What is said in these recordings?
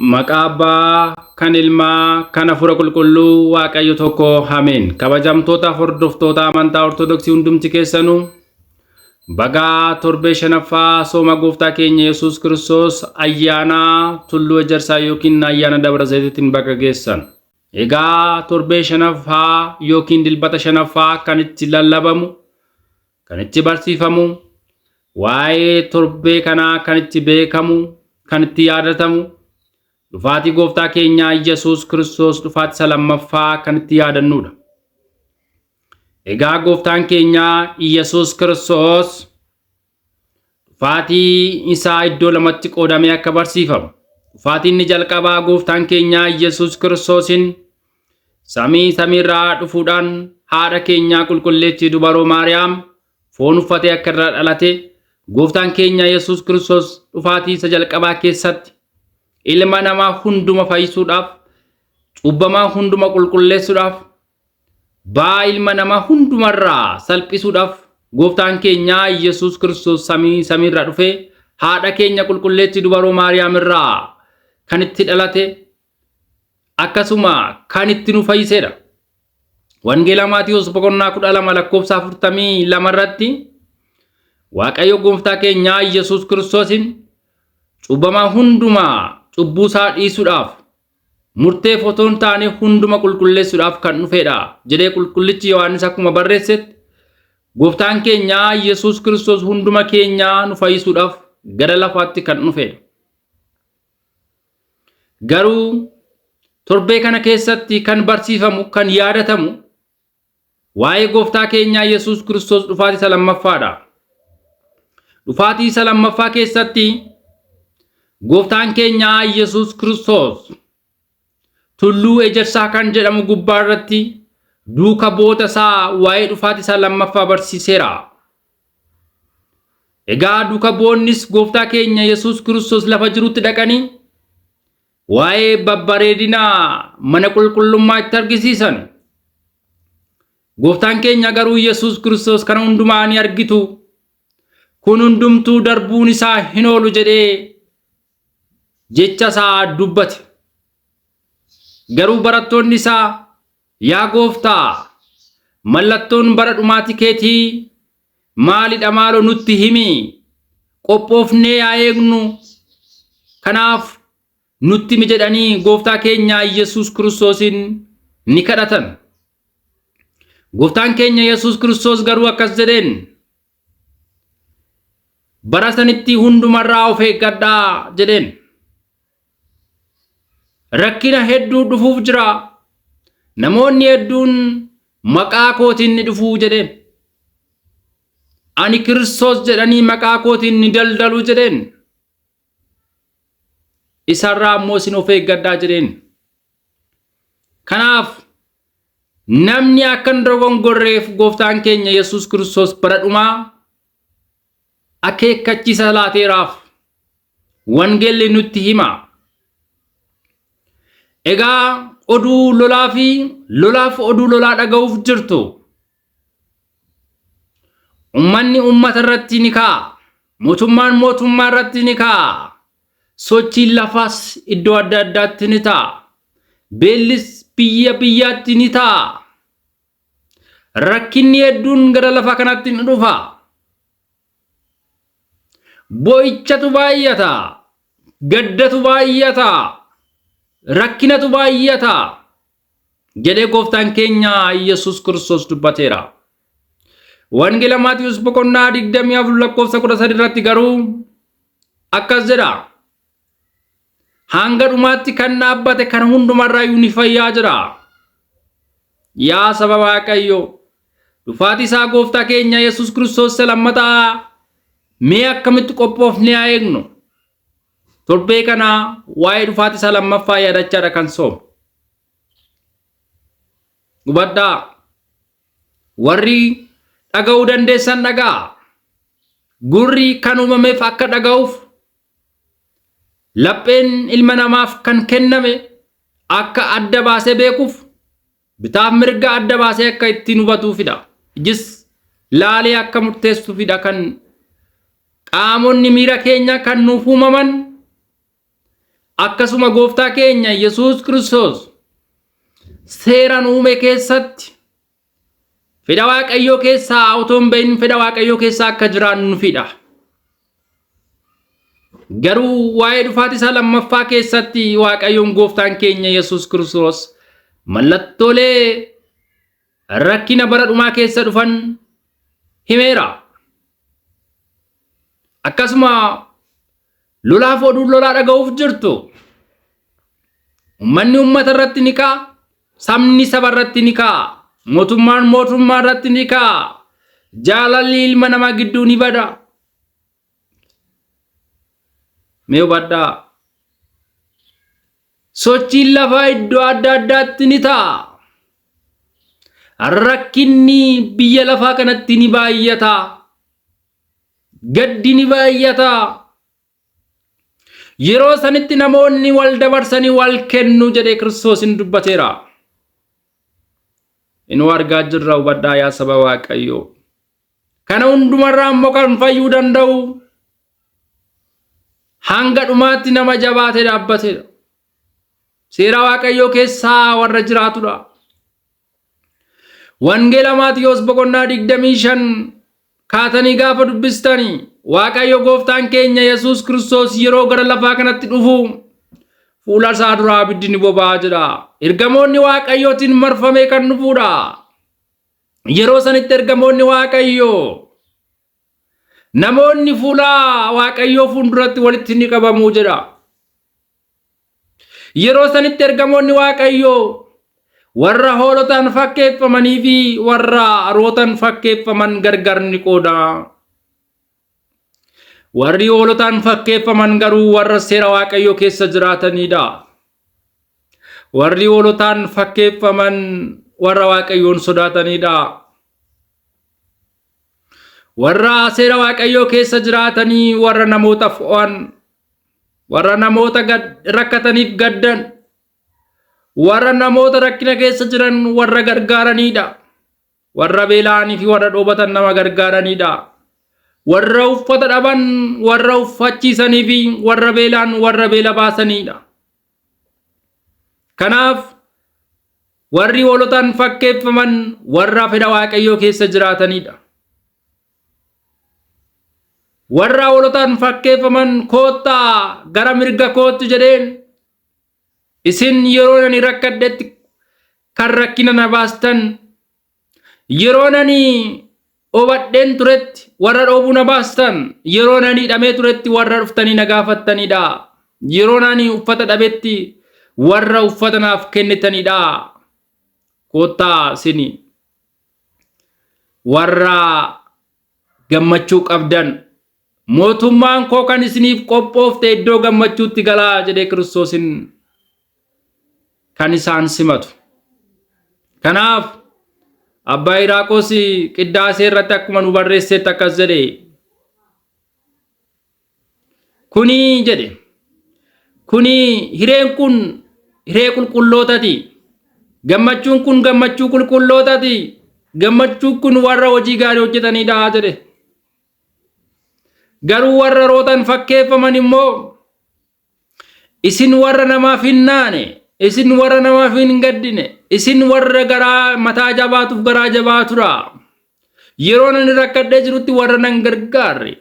Maqaa Abbaa, kan Ilmaa, kan Hafuura Qulqulluu, Waaqayyo tokko. Ameen. Kabajamtoota hordoftoota amantaa Ortodoksii hundumti keessanuu bagaa torbee shanaffaa sooma gooftaa keenya Yesuus Kiristoos ayyaana tulluu ejersaa yookiin ayyaana dabra zayitiitiin baga geessan. Egaa torbee shanaffaa yookiin dilbata shanaffaa kan itti lallabamu kan itti barsiifamu, waa'ee torbee kanaa kan itti beekamu, kan itti yaadatamu, dhufaatii gooftaa keenyaa Yesuus Kiristoos dhufaatii isa lammaffaa kan itti yaadannuudha. Egaa gooftaan keenyaa Yesuus Kiristoos dhufaatii isaa iddoo lamatti qoodamee akka barsiifamu. Dhufaatiin inni jalqabaa gooftaan keenyaa Yesuus Kiristoosiin Samii samiirraa dhufuudhaan haadha keenyaa qulqulleettii dubaroo Maariyaam foon uffatee akka irraa dhalate gooftaan keenya Yesuus Kiristoos dhufaatii isa jalqabaa keessatti ilma namaa hunduma fayyisuudhaaf cubbamaa hunduma qulqulleessuudhaaf baa ilma namaa hundumarraa salphisuudhaaf gooftaan keenyaa Yesuus Kiristoos samii samiirraa dhufee haadha keenya qulqulleettii dubaroo Maariyaam irraa kan itti dhalate akkasuma kan itti nu fayyiseedha. Wangeela Maatiyoos boqonnaa kudha lama lakkoofsa afurtamii lama irratti Waaqayyo gooftaa keenyaa Yesuus Kiristoosiin cubbamaa hundumaa cubbuu isaa dhiisuudhaaf murteef otoo hin taane hunduma qulqulleessuudhaaf kan dhufeedha jedhee qulqullichi Yohaannis akkuma barreessetti gooftaan keenyaa Yesuus Kiristoos hunduma keenyaa nu fayyisuudhaaf gara lafaatti kan dhufeedha. Garuu torbee kana keessatti kan barsiifamu kan yaadatamu waa'ee gooftaa keenyaa Yesuus Kiristoos dhufaatii isa lammaffaadha. Dhufaatii isa lammaffaa keessatti gooftaan keenyaa Yesuus Kiristoos tulluu ejersaa kan jedhamu gubbaa irratti duuka bu'oota isaa waa'ee dhufaatii isaa lammaffaa barsiiseera. Egaa duka bu'onnis gooftaa keenya Yesuus Kiristoos lafa jirutti dhaqanii waa'ee babbareedina mana qulqullummaa itti argisiisan. Gooftaan keenya garuu Yesuus Kiristoos kana hundumaa ni argitu. Kun hundumtuu darbuun isaa hin oolu jedhee jecha isaa dubbate. Garuu barattoonni isaa Yaa Gooftaa, mallattoon bara dhumaati keetii maali dha maaloo nutti himi, qophoofnee yaa eegnu, kanaaf nutti himi jedhanii Gooftaa keenya Yesuus Kiristoosiin ni kadhatan. Gooftaan keenya Yesuus Kiristoos garuu akkas jedheen, Bara sanitti hundumarraa of eeggadhaa jedheen. Rakkina hedduu dhufuuf jira. Namoonni hedduun maqaa kootiin ni dhufu jedheen. Ani Kiristoos jedhanii maqaa kootiin ni daldalu jedheen. isarraa ammoo isin of eeggadhaa jedheen. Kanaaf namni akka hin dogongorreef gooftaan keenya Yesuus Kiristoos bara dhumaa akeekkachiisa laateeraaf wangeelli nutti hima. Egaa oduu lolaa fi lolaaf oduu lolaa dhaga'uuf jirtu Ummanni ummata irratti ni ka'a. Mootummaan mootummaa irratti ni ka'a. Sochiin lafaas iddoo adda addaatti ni ta'a. Beellis biyya biyyaatti ni ta'a. Rakkinni hedduun gara lafa kanatti ni dhufa. Boo'ichatu baay'ata. Gaddatu baay'ata. Rakkinatu baay'ata. jedhee gooftaan keenya Iyyasuus Kiristoos dubbateera. Wangeela Maatiyoos boqonnaa 24 lakkoofsa 13 irratti garuu akkas jedha. Hanga dhumaatti kan dhaabbate kan hundumarraa ni fayyaa jira. Yaa saba Waaqayyo, dhufaatii isaa gooftaa keenya Yesuus Kiristoos isa lammataa mee akkamitti qophoofnee haa eegnu? Torbee kana waa'ee dhufaati isaa lammaffaa yaadachaadha kan soome. Hubadhaa warri dhaga'uu dandeessan dhaga'a. Gurri kan uumameef akka dhaga'uuf lapheen ilma namaaf kan kenname akka adda baasee beekuuf Bitaaf mirga adda baasee akka ittiin hubatuufidha. Ijis laalee akka murteessuufidha kan qaamonni miira keenya kan nuuf uumaman akkasuma gooftaa keenya Yesuus Kiristoos seera nu uume keessatti fedha Waaqayyoo keessaa otoo hin bahin fedha Waaqayyoo keessaa akka jiraannuufidha. Garuu waa'ee dhufaatii isaa lammaffaa keessatti Waaqayyoon gooftaan keenya Yesuus Kiristoos mallattoolee rakkina bara dhumaa keessa dhufan himeera. Akkasuma lolaaf oduun lolaa dhaga'uuf jirtu. Ummanni ummata irratti ni ka'a, Sabni saba irratti ni ka'a. Mootummaan mootummaa irratti ni ka'a. Jaalalli ilma namaa gidduu ni bada. Mee hubadhaa. Sochiin lafaa iddoo adda addaatti ni ta'a. Rakkinni biyya lafaa kanatti ni baay'ata. Gaddi ni baay'ata. Yeroo sanitti namoonni wal dabarsanii wal kennu jedhee Kiristoos in dubbateera. Inuu argaa jirra hubadhaa yaa saba Waaqayyoo. Kana hundumarraa immoo kan fayyuu danda'u hanga dhumaatti nama jabaatee dhaabbateedha. Seera Waaqayyoo keessaa warra jiraatudha. Wangeela Maatiyoos boqonnaa 25 kaatanii gaafa dubbistani Waaqayyo gooftaan keenya Yesuus Kiristoos yeroo gara lafaa kanatti dhufu fuula isaa duraa abiddi ni boba'a jedha. Ergamoonni Waaqayyootiin marfamee kan dhufudha. Yeroo sanitti ergamoonni Waaqayyoo namoonni fuula Waaqayyoo fuulduratti walitti ni qabamu jedha. Yeroo sanitti ergamoonni Waaqayyoo warra hoolotaan fakkeeffamanii fi warra rootan fakkeeffaman gargar ni qooda. Warri hoolotaan fakkeeffaman garuu warra seera Waaqayyoo keessa jiraatanidha. Warri hoolotaan fakkeeffaman warra Waaqayyoon sodaatanidha. Warra seera Waaqayyoo keessa jiraatanii warra namootaaf oo'an warra namoota rakkataniif gaddan warra namoota rakkina keessa jiran warra gargaaranidha warra beela'anii fi warra dhoobatan nama gargaaranidha warra uffata dhaban warra uffachiisanii fi warra beelaan warra beela baasanidha kanaaf warri hoolotaan fakkeeffaman warra fedha waaqayyoo keessa jiraatanidha warra hoolotaan fakkeeffaman koottaa gara mirga kootti jedheen isin yeroo nani rakkadhetti kan rakkina na baastan yeroo nani obadheen turetti warra dhoobuu na baastan yeroo nani hidhamee turetti warra dhuftanii na gaafattanidha yeroo nani uffata dhabetti warra uffata naaf kennitanidha koottaa isin warra gammachuu qabdan mootummaan koo kan isiniif qophoofte iddoo gammachuutti galaa jedhee kiristoosin kan isaan simatu. Kanaaf abbaa Hiraaqoos qiddaasee irratti akkuma nu barreessetti akkas jedhe Kuni jedhe kuni hireen kun hiree qulqullootati. Gammachuun kun gammachuu qulqullootati. Gammachuun kun warra hojii gaarii hojjetanidha jedhe. Garuu warra rootan fakkeeffaman immoo Isin warra namaaf hin naane, isin warra namaaf hin gaddine, isin warra garaa mataa jabaatuuf garaa jabaa tura. Yeroo nani rakkadhee jirutti warra nan gargaarre.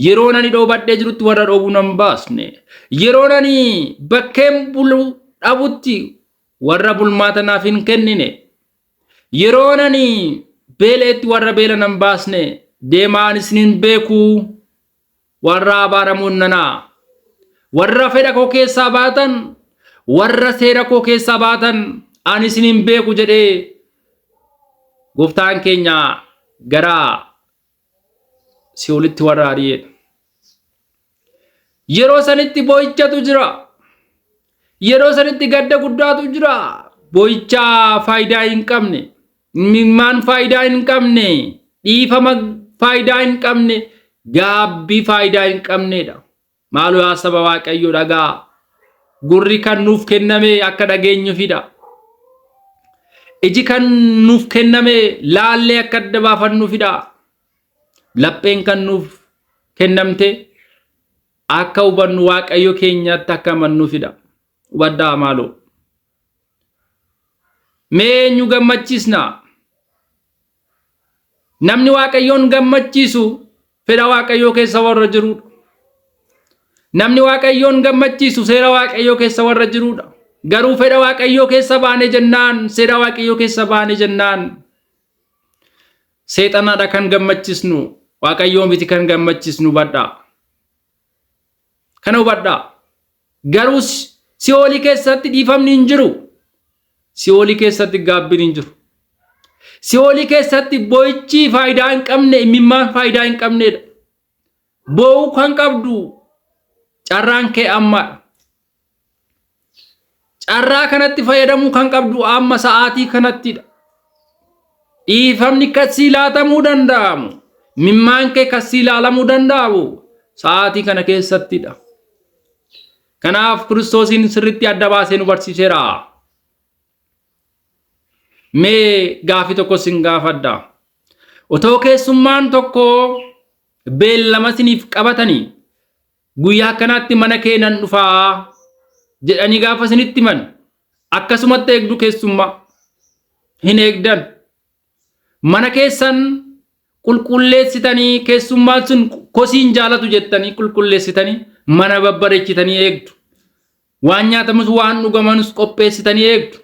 Yeroo nani dhoobadhee jirutti warra dhoobuu nan baasne. Yeroo nani bakkeen bulu dhabutti warra bulmaata naaf hin kennine. Yeroo nani beela'etti warra beela nan baasne. Deemaa ani isin hin beeku. Warra abaaramoon nana. Warra fedha koo keessaa baatan, warra seera koo keessaa baatan, ani isin hin beeku jedhee gooftaan keenya gara si'oolitti warra ari'eedha. Yeroo sanitti boo'ichatu jira. Yeroo sanitti gadda guddaatu jira. Boo'ichaa faayidaa hin qabne. Imimmaan faayidaa hin qabne, dhiifama faayidaa hin qabne, gaabbii faayidaa hin qabneedha. Maaloo yaa saba Waaqayyoo dhagaa. Gurri kan nuuf kenname akka dhageenyuufidha. Iji kan nuuf kenname laallee akka adda baafannuufidha. Lapheen kan nuuf kennamte akka hubannu Waaqayyo keenyatti akka amannuufidha. Hubadhaa maaloo. Mee eenyu gammachiisna? Namni Waaqayyoon gammachiisu fedha Waaqayyoo keessa warra jirudha. Namni Waaqayyoon gammachiisu seera Waaqayyoo keessa warra jirudha. Garuu fedha Waaqayyoo keessa baane jennaan, seera Waaqayyoo keessa baane jennaan, seexanadha kan gammachiisnu, Waaqayyoo miti kan gammachiisnu badha. Kana hubadhaa. Garuu si'oolii keessatti dhiifamni hin jiru. Si'oolii keessatti gaabbiin hin jiru. Si'oolii keessatti boo'ichi faayidaa hin qabne, imimmaan faayidaa hin qabneedha. Boo'uu kan qabdu carraan kee ammaadha. Carraa kanatti fayyadamuu kan qabdu amma sa'aatii kanattidha. Dhiifamni kan sii laatamuu danda'amu, mimmaan kee kan sii laalamuu danda'amu sa'aatii kana keessattidha. Kanaaf Kiristoosiin sirriitti adda baasee nu barsiiseera. Mee gaafii tokko sin gaafadha. Otoo keessummaan tokko beellama siniif qabatanii Guyyaa akkanaatti mana kee nan dhufa jedhanii gaafa isinitti himan akkasumatti eegdu keessummaa hin eegdan. Mana keessan qulqulleessitanii keessummaan sun kosiin jaalatu jettanii qulqulleessitanii mana babbareechitanii eegdu. Waan nyaatamus waan dhugamanus qopheessitanii eegdu.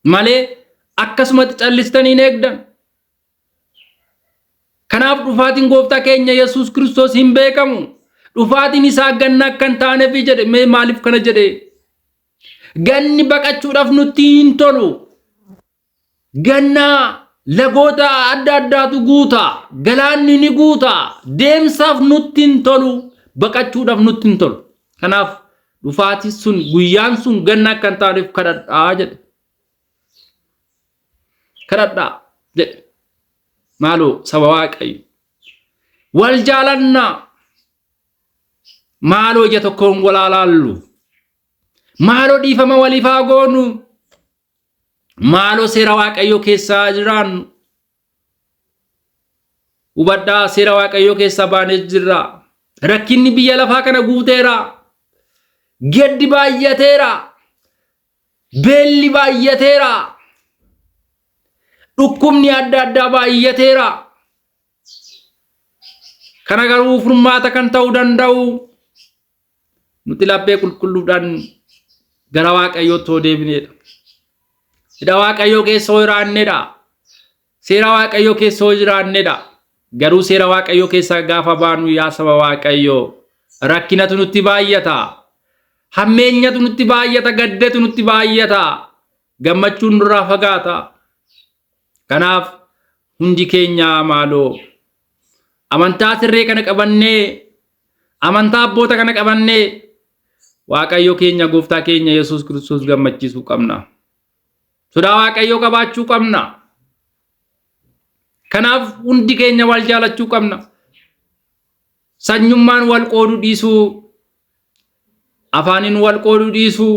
Malee akkasumatti callistanii hin eegdan. Kanaaf dhufaatiin gooftaa keenya Yesuus Kiristoos hin beekamu. Dhufaatiin isaa ganna akka hin taanefi jedhe mee maaliif kana jedhe? Ganni baqachuudhaaf nutti hin tolu. Ganna lagoota adda addaatu guuta. Galaanni ni guuta. Deemsaaf nutti hin tolu. Baqachuudhaaf nutti hin tolu. Kanaaf dhufaatiin sun guyyaan sun ganna akka hin taaneef kadhadhaa jedhe. kadhadhaa jedhe maaloo saba waaqayyo wal jaalannaa maaloo ija tokkoon wal haa laallu maaloo dhiifama waliif haa goonu maaloo seera waaqayyoo keessaa jiraannu hubadhaa seera waaqayyoo keessaa baanee jirra rakkinni biyya lafaa kana guuteera gaddi baay'ateera Beelli baay'ateera. Dhukkubni adda addaa baay'ateera. Kana garuu furmaata kan ta'uu danda'u nuti laphee qulqulluudhaan gara Waaqayyootti yoo deebineedha. Hidha Waaqayyoo keessa yoo jiraannedha. Seera Waaqayyoo keessa yoo jiraannedha. Garuu seera Waaqayyoo keessaa gaafa baanu yaa saba Waaqayyoo rakkinatu nutti baay'ata. Hammeenyatu nutti baay'ata, gaddatu nutti baay'ata. Gammachuun nurraa fagaata. Kanaaf hundi keenya maaloo amantaa sirree kana qabannee amantaa abboota kana qabannee Waaqayyo keenya gooftaa keenya Yesuus Kiristoos gammachiisuu qabna. Sodaa Waaqayyoo qabaachuu qabna. Kanaaf hundi keenya wal jaalachuu qabna. Sanyummaan wal qooduu dhiisuu, afaaniin wal qooduu dhiisuu,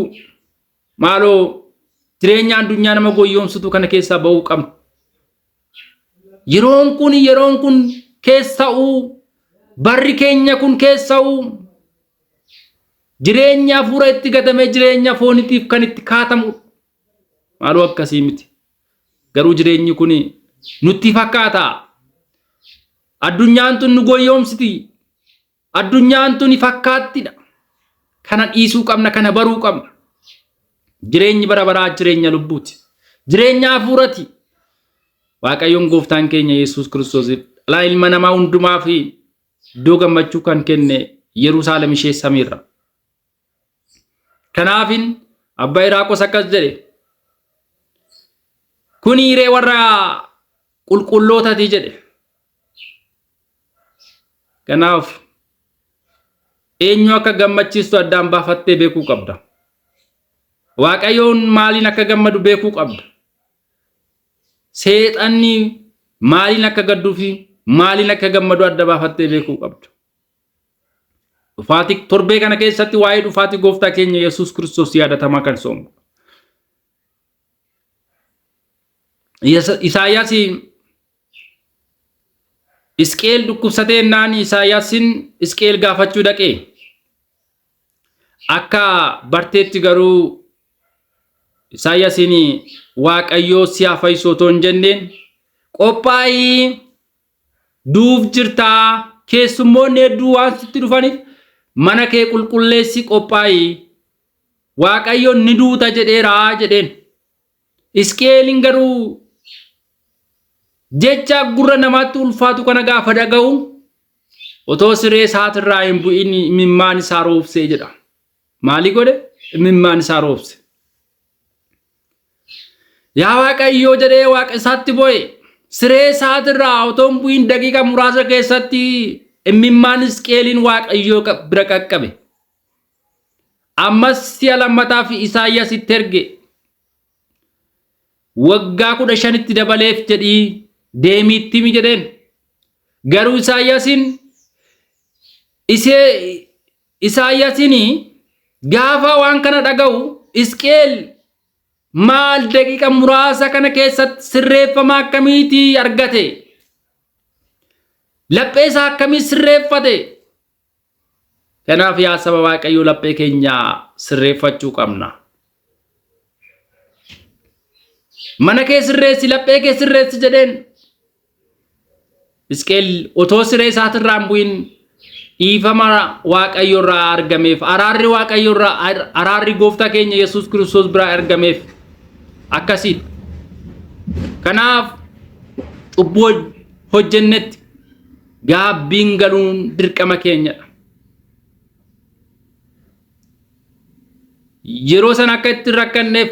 maaloo jireenya addunyaa nama goyyoomsutu kana keessaa ba'uu qabna. Yeroon kun yeroon kun keessa'uu barri keenya kun keessa'uu jireenya hafuura itti gatamee jireenya foonitiif kan itti kaatamu maaloo akkasii miti. Garuu jireenyi kun nutti fakkaata. Addunyaan tun nu goyyoomsiti. Addunyaan tuni fakkaattidha. Kana dhiisuu qabna, kana baruu qabna. Jireenyi bara baraa jireenya lubbuuti. Jireenya hafuurati. Waaqayyoon gooftaan keenya Yesuus Kiristoos dhalaa ilma namaa hundumaa fi iddoo gammachuu kan kenne Yerusaalem ishee samiirra. Kanaafin abbaa Iraaqos akkas jedhe. Kun hiree warra qulqullootati jedhe. Kanaaf eenyu akka gammachiistu addaan baafattee beekuu qabda. Waaqayyoon maaliin akka gammadu beekuu qabda. Seexanni maaliin akka gadduu fi maaliin akka gammadu adda baafattee beekuu qabda. Dhufaatii torbee kana keessatti waa'ee dhufaatii gooftaa keenya Yesuus Kiristoos yaadatamaa kan soomudha. Isaayyaas Isqeel dhukkubsatee naan Isaayyaasiin Isqeel gaafachuu dhaqee akka barteetti garuu Isaayyaasiin Waaqayyoo si haa fayyisu otoo hin jenneen qophaa'ii duuf jirta keessummoonni hedduu waan sitti dhufaniif mana kee qulqulleessi qophaa'i waaqayyoon ni duuta jedheera jedheen isqeeliin garuu jecha gurra namaatti ulfaatu kana gaafa dhaga'u otoo siree isaatirraa hin bu'in imimmaan isaa roobsee jedha maalii godhe imimmaan isaa roobse Yaa Waaqayyoo jedhee waaqa isaatti boo'e. Siree isaatirraa otoo hin bu'iin daqiiqa muraasa keessatti imimmaan Hisqi'eeliin Waaqayyoo bira qaqqabe. Ammas si'a lammataaf Isaayyaas itti erge. Waggaa kudha shanitti dabaleef jedhii deemii itti himi jedheen. Garuu Isaayyaasiin isee Isaayyasini gaafa waan kana dhaga'u Hisqi'el maal daqiiqa muraasa kana keessatti sirreeffama akkamiiti argate? Laphee isaa akkamii sirreeffate? Kanaaf yaa saba Waaqayyoo laphee keenya sirreeffachuu qabna. Mana kee sirreessi, laphee kee sirreessi jedheen Hisqeel otoo siree isaatirraa hin bu'in dhiifama Waaqayyorraa argameef araarri Waaqayyorraa ar- araarri gooftaa keenya Yesuus Kiristoos biraa argameef akkasiidha. Kanaaf cubbuu hoj- hojjennetti gaabbiin galuun dirqama keenyadha. Yeroo sana akka itti rakkanneef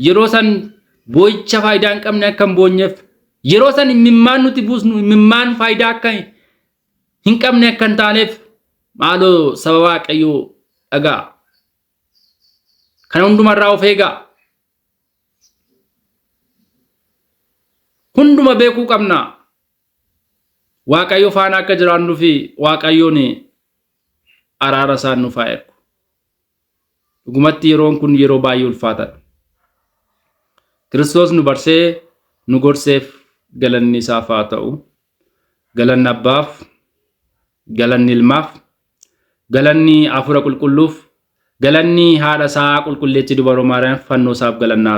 Yeroo san boo'icha faayidaa hin qabne akka hin boonyeef, yeroo san immimmaan nuti buusnu immimmaan faayidaa akka hin qabne akka hin taaneef maaloo saba Waaqayyoo dhaga'a. Kana hundumarraa of eegaa. Hunduma beekuu qabna. Waaqayyo faana akka jiraannuu fi Waaqayyoon araara isaan nuuf haa ergu. Dhugumatti yeroon kun yeroo baay'ee ulfaataadha. Kiristoos nu barsee nu gorseef galanni isaaf haa ta'u. Galanni abbaaf, galanni ilmaaf, galanni hafuura qulqulluuf, galanni haadha isaa qulqulleetti dubaroo maariyaam fannoo isaaf galanna haa ta'u.